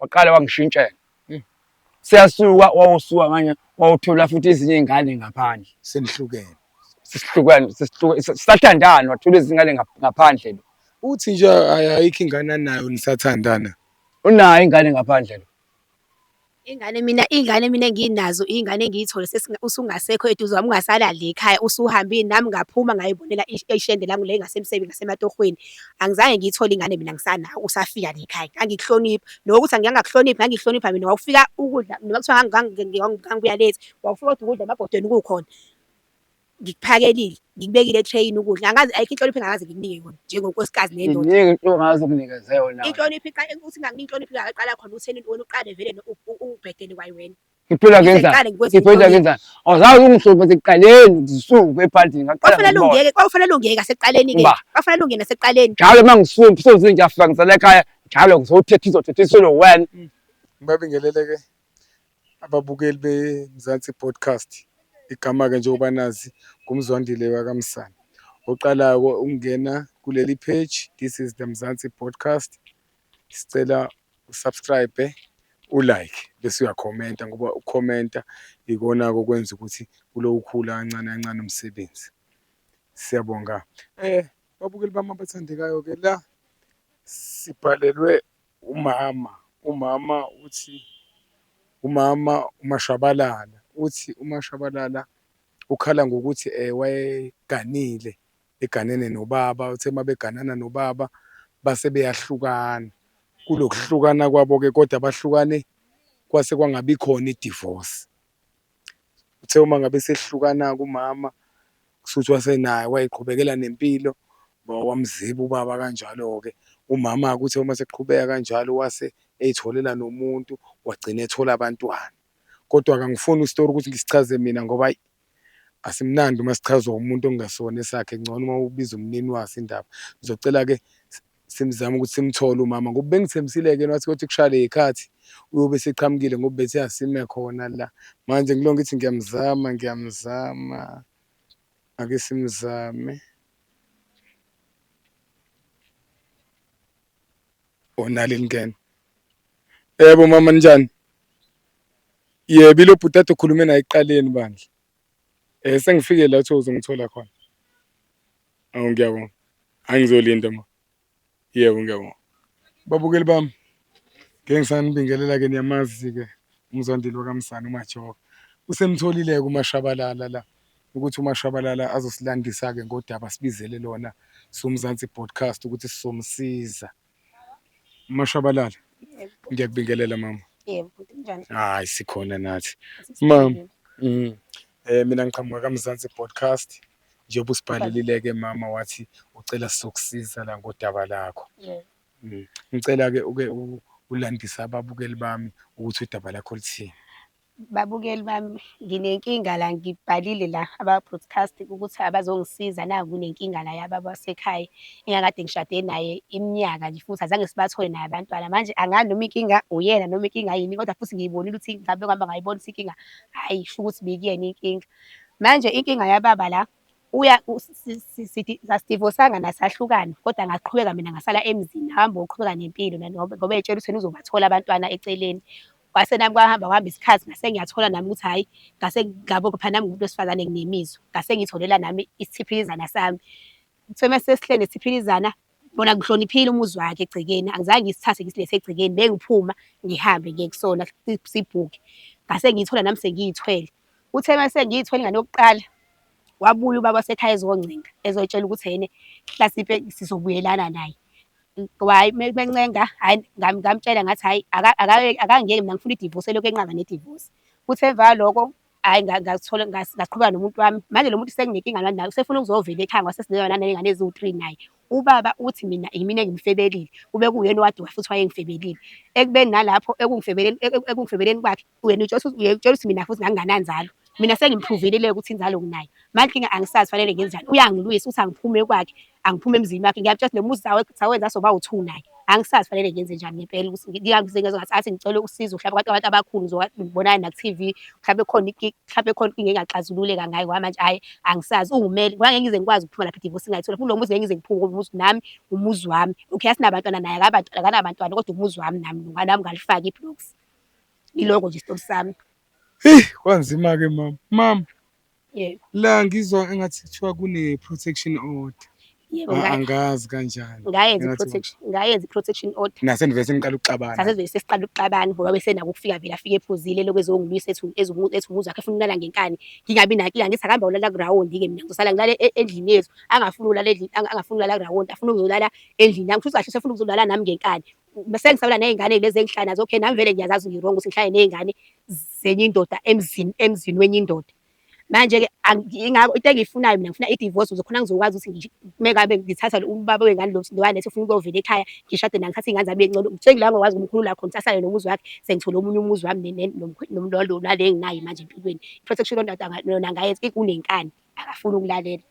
waqale wangishintshela hmm. siyasuka wawusuka nganye wawuthola futhi ezinye iy'ngane ngaphandle senihlukene sesihlukene sisathandana wathola izingane ngaphandle lo uthi nje ayikho ingane anayo nisathandana unayo ingane ngaphandle lo ingane mina ingane mina enginazo ingane engiyithole usungasekho eduze wami ungasalali ekhaya usuhambile nami ngaphuma ngayibonela ishende lami le ngasemsebenzi ngasematohweni angizange ngiyithole ingane mina ngisana usafika nje ekhaya ngangikuhlonipha loko ukuthi ngiyangakuhloniphi ngangikuhlonipha mina wawufika ukudla noma kuthiwa ngangibuya late wawufika kodwa ukudla emabhodweni kukhona ngikuphakelile ngikubekile etreyini ukudla angazi ayikho inhlonipho engakaze ngikunike yona njengonkosikazi nendoda iningi into ongaze unginikeze yona inhlonipho iqala ukuthi nganginhlonipho ingaqala khona utheni wena uqale vele ubhedele kwayi wena Ngiphila ngenzani? Ngiqale ngikwenze Ngiphila ngikubonile. ngenzani? Awuzazi ungihluphe sekuqaleni ngisuke ephantini ngaqala Kwakufanele ngibona. ungeke, kwakufanele ungeke asekuqaleni ke. Uba. Kwakufanele ungene asekuqaleni. Njalo uma ngisuke soze ngiyafika ngisale ekhaya njalo ngizothetha izothetha isilo wena. Ngibabingelele ke ababukeli beMzansi Podcast. Igama ke njengoba nazi ngumzwandile wakamsana. Oqalayo ukungena kuleli page this is the Mzansi Podcast. sicela usubscribe ulike bese uyakhomenta ngoba ukukhomenta ikona-ke okwenza ukuthi kulowukhula kancane kancane umsebenzi siyabonga eh babukeli bami abathandekayo-ke la sibhalelwe umama umama uthi umama umashabalala uthi umashabalala ukhala ngokuthi um wayeganile eganene nobaba uthe mabeganana nobaba base beyahlukana kulokuhlukana kwabo ke kodwa bahlukane kwase kwangabi khona idivorce uthe uma ngabe sehlukana kumama kusuthi wasenaye wayiqhubekela nempilo wamziba ubaba kanjalo ke umama kuthe uma sekuqhubeka kanjalo wase eyitholela nomuntu wagcina ethola abantwana kodwa kangifuni istory ukuthi ngisichaze mina ngoba asimnandi uma sichazwa umuntu ongasona esakhe ngcono uma ubiza umnini waso indaba ngizocela ke simzama ukuthi simthole umama ngoba bengithembisile ke wathi kothi kushaya le khathi uyobe seqhamukile ngoba bethe asime khona la manje ngilo ngithi ngiyamzama ngiyamzama ake simzame onalini ngene yebo mama njani Yebo ilo bhuti ade ukhulume naye ekuqaleni bandla. Eh sengifike la uthe uzongithola khona. Awu ngiyabonga. Angizolinda ma. Yebo ngiyabonga. Babukeli bami ngeke ngisanibingelela ke niyamazi ke umzwandile wakamsana umajoka. Usemtholile ke umashabalala la ukuthi umashabalala azosilandisa ke ngodaba sibizele lona somzansi broadcast ukuthi sizomsiza. Mashabalala. Yebo. Ngiyakubingelela mama. Yebo, bhuti kunjani? Hayi sikhona nathi. Mama. Mm. Eh mina ngiqhamuka kaMzansi podcast. Njengoba usibhalelile ke mama wathi ucela sizokusiza la ngodaba lakho. Yebo. Mm. Ngicela ke uke u- ulandise ababukeli bami ukuthi udaba lakho lithini. Babukeli bami nginenkinga la ngibhalile la aba broadcast ukuthi abazongisiza naku kunenkinga la yababa wasekhaya engakade ngishade naye iminyaka nje futhi azange sibathole naye abantwana manje angazi noma inkinga uyena noma inkinga yini kodwa futhi ngiyibonile ukuthi ngabe ngihamba ngayibona ukuthi inkinga hayi sho ukuthi bikuyena inkinga manje inkinga yababa la uya sasidivosanga nasahlukana kodwa ngaqhubeka mina ngasala emzini hamba uqhubeka nempilo ngoba etshela ukuthi uzobathola abantwana eceleni kwase nami kwahamba kwahamba isikhathi ngase ngiyathola nami ukuthi hhayi ngase ngabo phela nami ngumuntu wesifazane nginemizwa ngase ngitholela nami isiphilizana sami kuthiwe uma sesihlele nesiphilizana bona ngihloniphile umuzi wakhe egcekeni angizange ngisithathe ngisilethe egcekeni bengiphuma ngihambe ngiye kusona sibhuke ngase ngiyithola nami sengiyithwele uthe uma sengiyithwele ingane yokuqala wabuya ubaba wasekhaya ezongcinga ezotshela ukuthi yena hlasipe sizobuyelana naye ngoba hhayi uma bencenga hhayi ngamtshela ngathi hhayi akangiyeki mina ngifuna idivosi elokhu enqaba nedivosi futhi emva kwaloko hhayi ngazithola ngaqhubeka nomuntu wami manje lo muntu senginenkinga lani naye usefuna ukuzovela ekhaya ngoba sesinezona naney'ngane eziwu-three naye ubaba uthi mina yimina engimfebelile kube kuwuyena owaduka futhi wayengifebelile ekubeni nalapho ekungifebeleni kwakhe wena utshela ukuthi uye- utshela ukuthi mina futhi ngangingananzalo mina sengimphuvile le ukuthi inzalo nginayo manje inkinga angisazi fanele ngenzani uyangilwisa ukuthi angiphume kwakhe angiphume emzini wakhe ngiyamtshela ukuthi lo muzi sawe- sawenza soba u-two naye angisazi fanele ngenze njani ngempela ukuthi ngi- ngiyangize ngezwa ngathi athi ngicele usizo mhlawumbe abantu abantu abakhulu ngizoba- ngibonane naku-tv mhlawumbe khona inki- mhlawumbe khona inkinga engaxazululeka ngayo ngoba manje ayi angisazi uwumele ngoba ngeke ngize ngikwazi ukuphuma lapha idivosi ngayithola kulo muzi ngeke ngize ngiphume ngoba umuzi nami umuzi wami okay asinabantwana naye akabantwana akanabantwana kodwa umuzi wami nami nami ngalifaka ibloks Iloko nje stop sami. Hey, kwanzima ke mama. Mama. Yebo. La ngizwa engathi kuthiwa kune protection order. Yebo ah, ngaye. Angazi kanjani. Ngayenza protection, ngayenza protection order. Nase nivese niqala ukuxabana. Sase nivese siqala ukuxabana ngoba bese naku kufika vela afike ephuzile lokho ezongilwisa ethu ezumuntu ethu muzi wakhe funa ulala ngenkani. Ngingabi naki angithi akamba ulala ground ke mina ngizosala ngilale e-, endlini yethu. Angafuni ulala endlini, angafuni ulala ground, afuna ukuzolala endlini yami. Futhi kahle sefuna ukuzolala nami ngenkani. bese ngisabela nezingane lezi engihlala nazo okay nami vele ngiyazazi ngiwrong ukuthi ngihlale nezingane zenye indoda emzini emzini wenye indoda manje ke ingakho into engiyifunayo mina ngifuna i-divorce ukuze khona ngizokwazi ukuthi mekabe ngithatha ubaba wengane lo msindo walethi ufuna ukuyovela ekhaya ngishade naye ngithathe ingane zami encane sengila ngokwazi ukumkhulula khona ukuthi asale nomuzi wakhe sengithole omunye umuzi wami nomlolo nale enginayo manje empilweni i-protection yona ngayenza ikunenkani akafuni ukulalela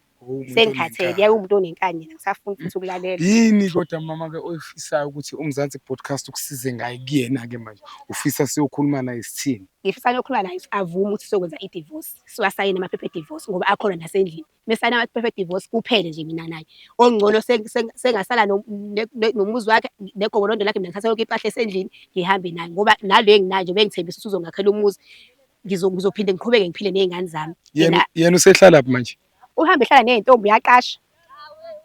sengikhathele yawumuntu onenkani yena ngisafuna futhi ukulalela yini kodwa mama ke oyifisayo ukuthi umzansi podcast ukusize ngaye kuyena ke manje ufisa siyokhuluma naye sithini ngifisa ngiyokhuluma naye avume ukuthi sokwenza i-divorce siwasayine amaphepha e-divorce ngoba akhona nasendlini mesayina amaphepha e-divorce kuphele nje mina naye ongcono sengasala nomuzi wakhe negobolondo lakhe mina ngithatha yonke impahla esendlini ngihambe naye ngoba nalo enginayo nje bengithembisa usuzongakhela umuzi ngizo ngizophinde ngiqhubeke ngiphile nezingane zami yena yena usehlala phi manje uhambe ehlala nezintombi uyaqasha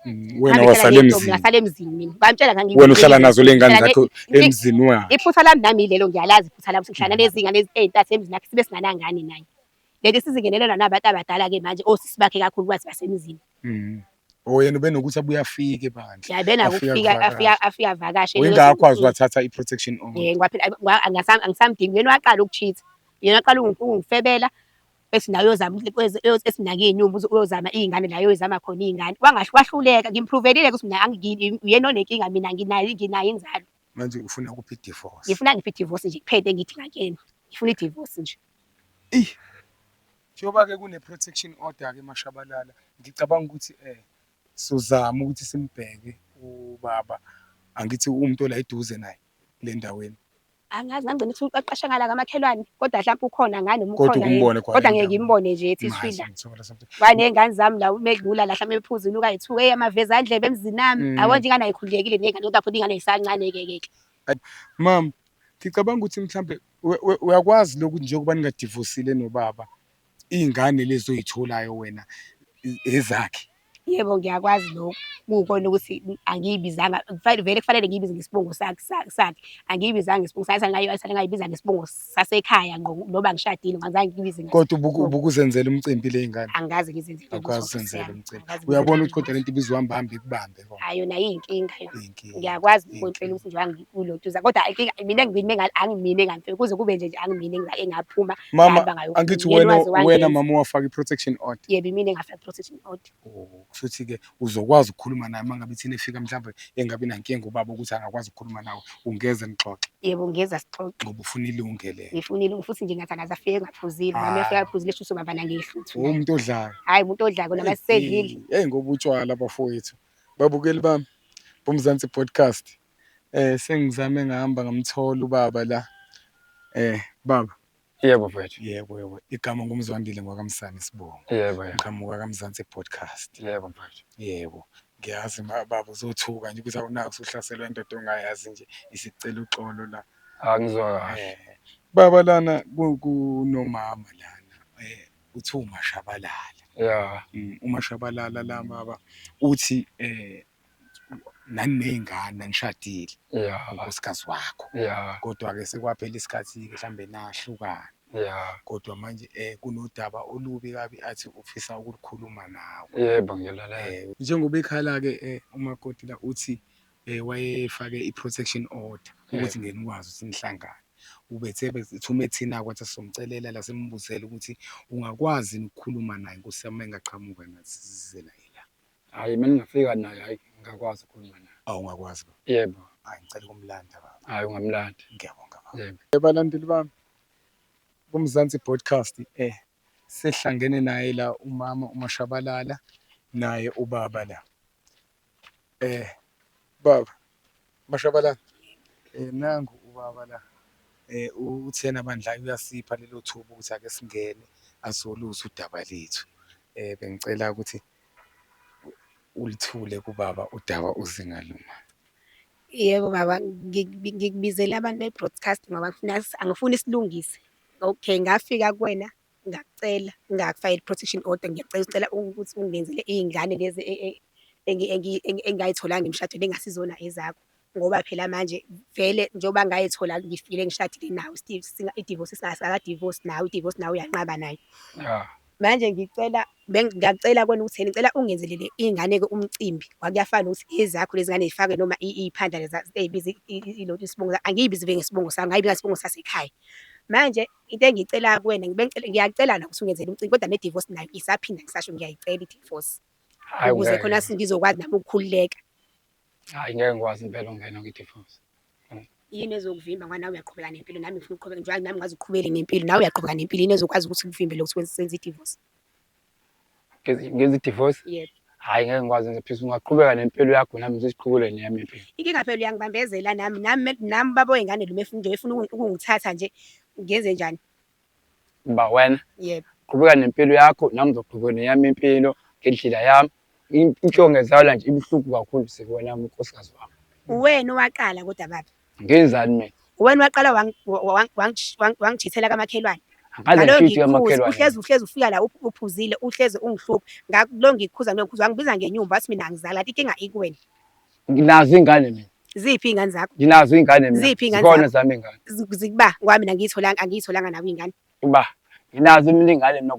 mm, wena wasale emzini ngasale emzini mina bamtshela ngangi wena uhlala nazo lengane zakho emzini wakhe iphutha lami nami lelo ngiyalazi iphutha lami sihlala nezingane ezintathu emzini wakhe sibe singanangane naye leli sizingenelelwa nabantu abadala ke manje osisi bakhe kakhulu kwazi basemzini Mm. Oh yena ubenokuthi abuye afike bandla. Ya bena Afika ukufika kuvakasha. afika afika vakashe. Uyingakho waze wathatha i-protection on. Eh ngwaphela ngwa- angasam- angisamdingi yena waqala ukucheat. Yena waqala ukungi- ungifebela ethi nawe uyozama ukuthi kweze- uyoz- ethi mina ngiyinumbu uzo- uyozama iy'ngane la uyoyizama khona iy'ngane. Wangahle wahluleka ngimphruvelile ukuthi mina angi- uyena onenkinga mina nginayo nginayo inzalo. Manje ufuna kuphi i-divorce? Ngifuna ngiphe i-divorce nje kuphele engidinga kuyena. Ngifuna i-divorce nje. Ey. Njengoba ke kune protection order ke Mashabalala ngicabanga ukuthi eh sizama ukuthi simbheke ubaba angithi umuntu ola eduze naye le ndaweni. Angazi ngangigcina ukuthi uqaqasha ngala kamakhelwane kodwa hlampe ukhona ngani noma Kodwa ukhona yini. ukumbone kwa Kodwa ngeke ngimbone nje ethi Mazi swila. ngithola something. Baney'ngane zami la uma edlula la hlampe ephuza inuka yethuka eyi amavezandlebe emzinami. Mm. Yabo nje ingane ayikhululekile ney'ngane kodwa futhi ingane isancane-ke ke. Mam, ngicabanga ukuthi mhlambe uyakwazi lokhu njengoba ningadivosile nobaba iy'ngane lezi oy'tholayo wena ezakhe yebo ngiyakwazi lokhu kukona ukuthi angiyibizanga vele kufanele ngiyibize ngesibongo sakhe angiyibizanga ngesibongo sakhe sale ngayibiza ngesibongo sasekhaya ngqo noba ngishadile ngazange ngiyibize kodwa ubukuzenzela umcimbi ley'ngane angazi ngizenzela umcimbi uyabona ukuthi kodwa le nto ibizohamba hambe kubambe yebo hayi yona iyinkinga yona Iyinkinga. ngiyakwazi Iyinkinga. ukunhlwela ukuthi nje wangikulotuza kodwa inkinga mina ngimine nga- angimine ngempela kuze kube nje nje angimine nga- engaphuma mama ngahambe ngayofuna. angithi Yena wena waze wena wangenza. mama wafaka i-protection order yebo imina engafaka protection order Oh, kushuthi-ke uzokwazi ukukhuluma naye uma ngabe ithina efika mhlawumbe engabi nankinga ubaba ukuthi angakwazi ukukhuluma nawe Ungeze nixoxe. Yebo ngeza sixoxe. Ngoba ufuna ilungele. Ngifuna ilungu futhi nje ngathi akaze afike ngaphuzile. Nami Hayi. afika aphuzile shuthi ubaba nangehluthu. Uwumuntu odlayo. Hayi umuntu odlako namasedlile. Hey ngoba utshwala bafowethu. Babukeli bami boMzansi Podcast. Eh sengizame ngahamba ngamthola ubaba la. Eh baba Yebo mfethu. Yebo yebo. Igama ngumzwandile ngwakamsane sibonga. Yebo yebo. Ngiqhamuka kaMzansi podcast. Yebo mfethu. Yebo. Ngiyazi ma baba uzothuka nje ukuthi awunaki usuhlaselwa indoda ongayazi nje isicela uxolo la. Angizwa kahle. Eh, Baba lana ku- kunomama lana eh uthi umashabalala. Yeah. Mm, umashabalala la baba uthi eh naniney'ngane nanishadile unkosikazi wakho kodwa-ke sekwaphela isikhathi-ke mhlawumbe nahlukana kodwa manje um kunodaba olubi kabi athi ufisa ukulikhuluma nawe yebo ngiyalalela um njengoba ekhala-ke um umakoti la uthi um wayefake i-protection order ukuthi ngeke nikwazi ukuthi nihlangane ubethe thume ethina kwathi sizomcelela la simbuzele ukuthi ungakwazi nokukhuluma naye nkosi yami engaqhamuka nathi sizizela Hhayi uma ningafika naye hhayi ngingakwazi ukukhuluma naye. Awu ungakwazi baba? Yebo. Hhayi ngicela ukumlanda baba. Hhayi ungamlandi. Ngiyabonga baba. Yebo. Balandeli bami kuMzansi Broadcast e sehlangene naye la umama uMashabalala naye ubaba la eh baba Mashabalala eh nangu ubaba la eh uthena bandla uyasipha lelo thuba ukuthi ake singene azoluza udaba lethu eh bengicela ukuthi ulithule kubaba udaba uzinga luma yebo baba ngikubizele abantu be-broadcast ngoba angifuni silungise okay ngafika kuwena ngakucela ngakufayela i-protection order ngiyacela ucela ukuthi ungenzele iy'ngane lezi e, e, engingayitholanga emshadweni engasizona ezakho Ngoba phela manje vele njengoba ngayithola ngifikile ngishadile nawe Steve singa- idivorce singakadivorce nawe idivorce nawe uyanqaba nayo Ya. manje ngicela beng- ngiyacela kona ukuthi ngicela ungenzelele iy'ngane-ke umcimbi kwakuyafana nokuthi ezakho lezi ngane zifake noma i- iy'phandla leza ey'biza i- i- i- ilo- isibongo sa- angiyibizi vele ngesibongo sami ngayibiza ngesibongo sasekhaya manje into engiyicela kuwena ngibe ngicela- ngiyacela na ukuthi ungenzele umcimbi kodwa ne-divorce nayo isaphinda ngisasho ngiyayicela i-divorce Hayi ukuze wena. khona si- ngizokwazi nami ukukhululeka Hayi ngeke ngikwazi impela ungena kwi-divorce. Yini ezokuvimba ngoba nawe uyaqhubeka nempilo nami ngifuna ukuqhubeka njengoba nami ngazi uqhubele nempilo nawe uyaqhubeka nempilo yini ezokwazi ukuthi kuvimbele ukuthi wenze senze i-divorce. Ngezi- Ngenza i-divorce? Yebo. Hayi ngeke ngikwazi ngenza phisa ungaqhubeka nempilo yakho nami ngisesiqhubulweni yami impilo. Inkinga phela uyangibambezela nami nami me- nami baba wey'ngane lo mefuna nje efuna uku- ukungithatha nje ngenze njani. Ngba wena. Yebo. Qhubeka nempilo yakho nami ngizoqhubeka neyami impilo ngendlela yami. Inhlonge zala nje ibuhlungu kakhulu sisi wena unkosikazi wami. Uwena owaqala kodwa baba. Ngenzani mina? Uwena waqala wangijithela kamakhelwane. Ngalo ngikhuza uhlezi uhlezi ufika la uphuzile uhlezi ungihlupha. Ngalo ngikhuza nokhuza wangibiza ngenyumba wathi mina angizali kanti inkinga ikuwena. Nginazo ingane mina. Ziphi iy'ngane zakho? Nginazo iy'ngane mina. Ziphi iy'ngane zakho? Zikhona zami iy'ngane. Zikuba ngoba mina ngiyitholanga angiyitholanga nawe iy'ngane. Uba nginazo mina iy'ngane mina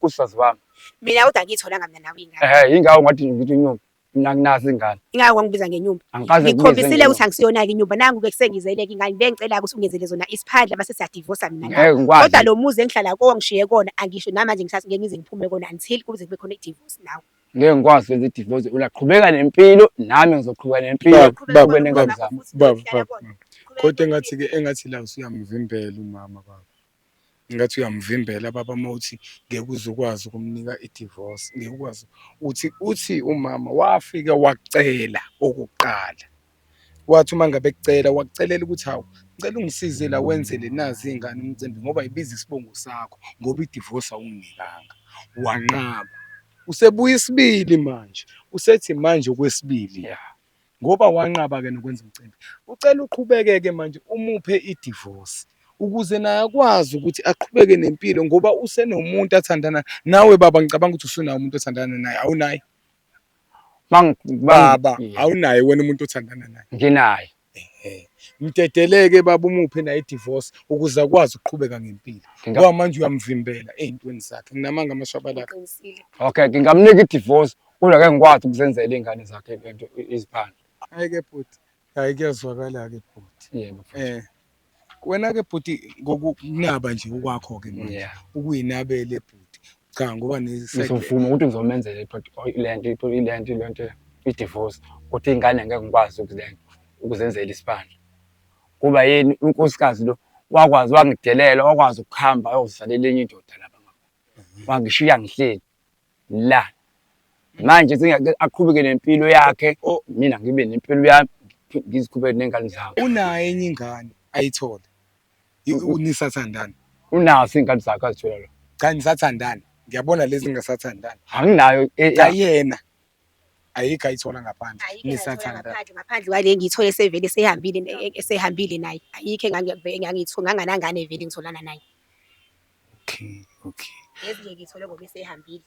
kusazi wami. Mina kodwa angiyitholanga mina nawe iy'ngane. Ehhe yingakho ngathi ngithi inyumba. Mina nginazo iy'ngane. Ingakho wangibiza ngenyumba. Angikaze ngibize. Ngikhombisile ukuthi angisiyona-ke inyumba. Nangu-ke kusengizele-ke iy'ngane. Bengicela-ke ukuthi ungenzele zona isiphandla base siyadivosa mina nawe. Ngeke ngikwazi. Kodwa lo muzi engihlala kuwo ngishiye kona angisho namanje ngithathe ngeke ngize ngiphume kona until kuze kube khona idivosi nawe. ngeke ngikwazi ukwenza idivosi ulaqhubeka nempilo nami ngizoqhubeka nempilo Baba, nengane zami baba baba kodwa engathi ke engathi la usuyamvimbela umama baba ngathi uyamvimbela baba uma uthi ngeke uze ukwazi ukumnika idivorce ngeke ukwazi uthi uthi umama wafika wacela okokuqala Wathi uma ngabe kucela wakucelela ukuthi hawu ngicela ungisize la wenzele nazi iy'ngane umcimbi ngoba yibiza isibongo sakho ngoba idivosi awunginikanga, wanqaba. Usebuya isibili manje, usethi manje okwesibili ya ngoba wanqaba-ke nokwenza umcimbi, ucela uqhubeke-ke manje umuphe idivosi ukuze naye akwazi ukuthi aqhubeke nempilo ngoba usenomuntu athandana nawe baba, ngicabanga ukuthi usunaye umuntu othandana naye, awunaye? baba awunaye wena umuntu othandana naye nginaye mdedeleke baba umuphe naye idivorce ukuze akwazi ukuqhubeka ngempilo ngoba manje uyamvimbela ey'ntweni zakhe nginamanga amashabalaka okay ngingamnika idivorce kodwa ke ngikwazi ukuzenzela iy'ngane zakhe lento iziphandle ayeke bhuti Hayi kuyazwakala-ke bhuti. Yebo futhi. Eh wena-ke bhuti ngokunaba nje okwakho-ke manje Yeah. ukuyinabele bhuti cha ngoba ne-side- Ngizovuma ukuthi ngizomenzela i-pot- oy- le nto i-pot- le nto le nto i-divorce ukuthi iy'ngane ngeke ngikwazi ukuzen- ukuzenzela isibandla kuba yini unkosikazi lo wakwazi wangidelela wakwazi ukuhamba ayozalela enye indoda lapha wangishiya ngihleli la manje sengiyake aqhubeke nempilo yakhe o- mina ngibe nempilo yami ngiphi- ngiziqhubeke ney'ngane zami unayo enye ingane ayithole I- u- nisathandana unazo iy'ngane zakhe azithola lo cha nisathandana ngiyabona lezi ngingasathandani anginayo e- cha ya- yena ayikho ayithola ngaphandle Ayikho engangiyithola nisathandana ngaphandle ngaphandle kwale engiyithole sevele esehambile ne- esehambile naye ayikho engangi- engangiyithi- nganganangane vele ngitholana naye Okay, okay. Yes nje ngithole ngoba esehambile.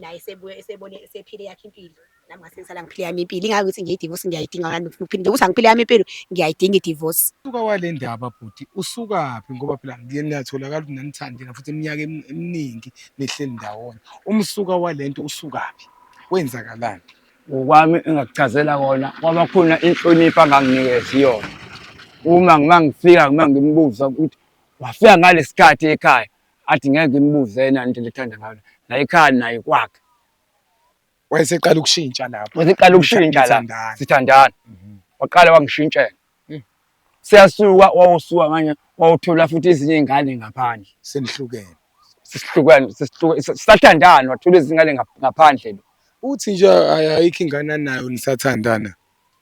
Naye sebuye esebone esephile yakhe impilo. Nami ngase ngisala ngiphile yami impilo. Ingakho ukuthi ngiyi divorce ngiyayidinga kanti ngifuna ukuphila. Ukuthi angiphile yami impilo ngiyayidinga i divorce. Usuka wale ndaba bhuti usukaphi ngoba phela ngiyatholakala ukuthi nanithandela futhi iminyaka em- eminingi nihleli ndawonye. Umsuka walento usukaphi? Kwenzakalani? ngokwami engakuchazela kona kwaba khona inhlonipho anganginikezi yona uma ngima ngifika ngima ngimbuza ukuthi Wafika ngalesikhathi ekhaya athi ngeke ngimbuze yena into lethanda ngayo la ekhaya naye kwakhe. Wayeseqala ukushintsha lapho. Wayeseqala ukushintsha la. Sithandana. Mhm. Waqala wangishintshela. Hmm. Siyasuka wawusuka manje wawuthola futhi ezinye izingane ngaphandle. Senihlukene. Sesihlukene sesihluke sathandana wathola izingane ngaphandle lo. Uthi nje ayikho ingane anayo nisathandana.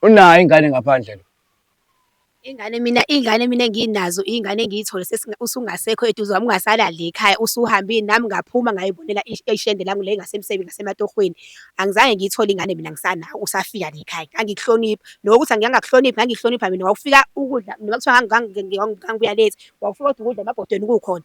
Unayo ingane ngaphandle lo. Ingane mina, iy'ngane mina enginazo iy'ngane engiy'thole usungasekho eduze kwami ungasalali la ekhaya usuhambile nami ngaphuma ngay'bonela ishende lami le ngasematohweni. Angizange ngiyithole ingane mina ngisanawe usafika la ekhaya ngangikuhlonipha. Loko ukuthi ngangingakuhloniphi ngangikuhlonipha mina wawufika ukudla noma kuthiwa ngangibuya late wawufika kodwa ukudla emabhodweni kukhona.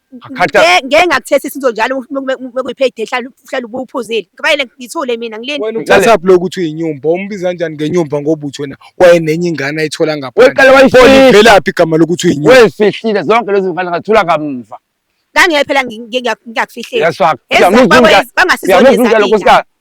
Ngeke ngeke ngakuthesa isinto njalo mekuyipayday hlala hlala ubuphuzile. Kubayele ngithule mina ngileni. Wena uthatha blow ukuthi uyinyumba umbiza kanjani ngenyumba ngoba uthi wena wayenenye ingane ayithola ngaphandle. Weqala wayifihla. Velaphi igama lokuthi uyinyumba. Wefihlile zonke lezi mfana ngathula kamva. Ngangeke phela ngiyakufihlela. Yes fuck. Bangasizona izinto.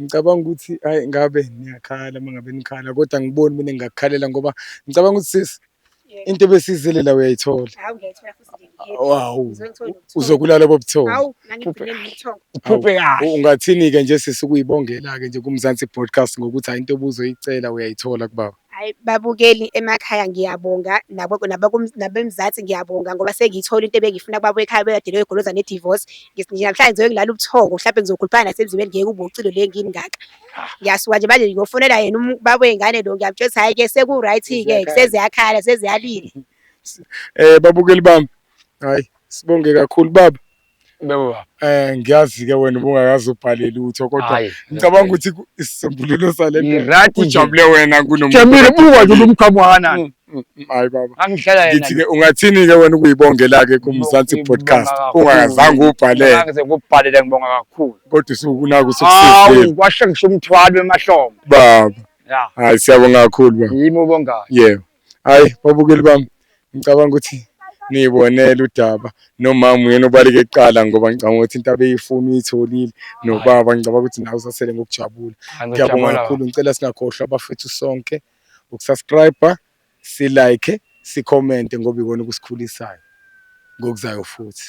Ngicabanga ukuthi ayi ngabe niyakhala uma ngabe nikhala kodwa angiboni mina ngingakukhalela ngoba ngicabanga ukuthi sisi into ebesizile la uyayithola awu uzokulala bobuthongo uphuphe kahle ungathini-ke nje sisi ukuyibongela-ke nje kumzansi broadcast ngokuthi hayi into obuzoyicela uyayithola kubaba Hhayi babukeli emakhaya ngiyabonga nabeMzansi ngiyabonga ngoba sengiyithole into ebengiyifuna kubaba wekhaya obekade eyogoloza ne-divorce. Nje namhlanje ngizoke ngilale ubuthongo mhlampe ngizokhuluphana nasemzimbeni ngeke ube ucilo le engini ngaka. Ngiyasuka nje manje ngiyofonela yena ubaba wey'ngane lo ngiyamtshela ukuthi hhayi-ke seku-right-ke seziyakhala seziyalila. Babukeli bami, hhayi sibonge kakhulu baba. Baba. Eh ngiyazi ke wena ubungakazi ubhale lutho kodwa ngicabanga ukuthi isisombululo sale nto ujabule wena kunomuntu. Jamile buka nje lomkhamo kanani. Mm, mm, hayi baba. Angihlala yena. Ngithi ke ungathini ke wena ukuyibongela ke kuMzansi podcast ungazange ubhalele. Angize ngubhalele ngibonga kakhulu. Kodwa usukunaku sokusizile. Hawu kwashe ngisho umthwalo emahlombe. Baba. Ya. Hayi siyabonga kakhulu baba. Yimi ubongayo. Yebo. Hhayi babukeli bami ngicabanga ukuthi niyibonele udaba nomama uyena obaleke kuqala ngoba ngicabanga ukuthi into abeyifuna uyitholile nobaba ngicabanga ukuthi nawe usasele ngokujabula ngiyabonga kakhulu ngicela singakhohlwa abafethu sonke ukusubscribe silike sikhomente ngoba ikona okusikhulisayo ngokuzayo futhi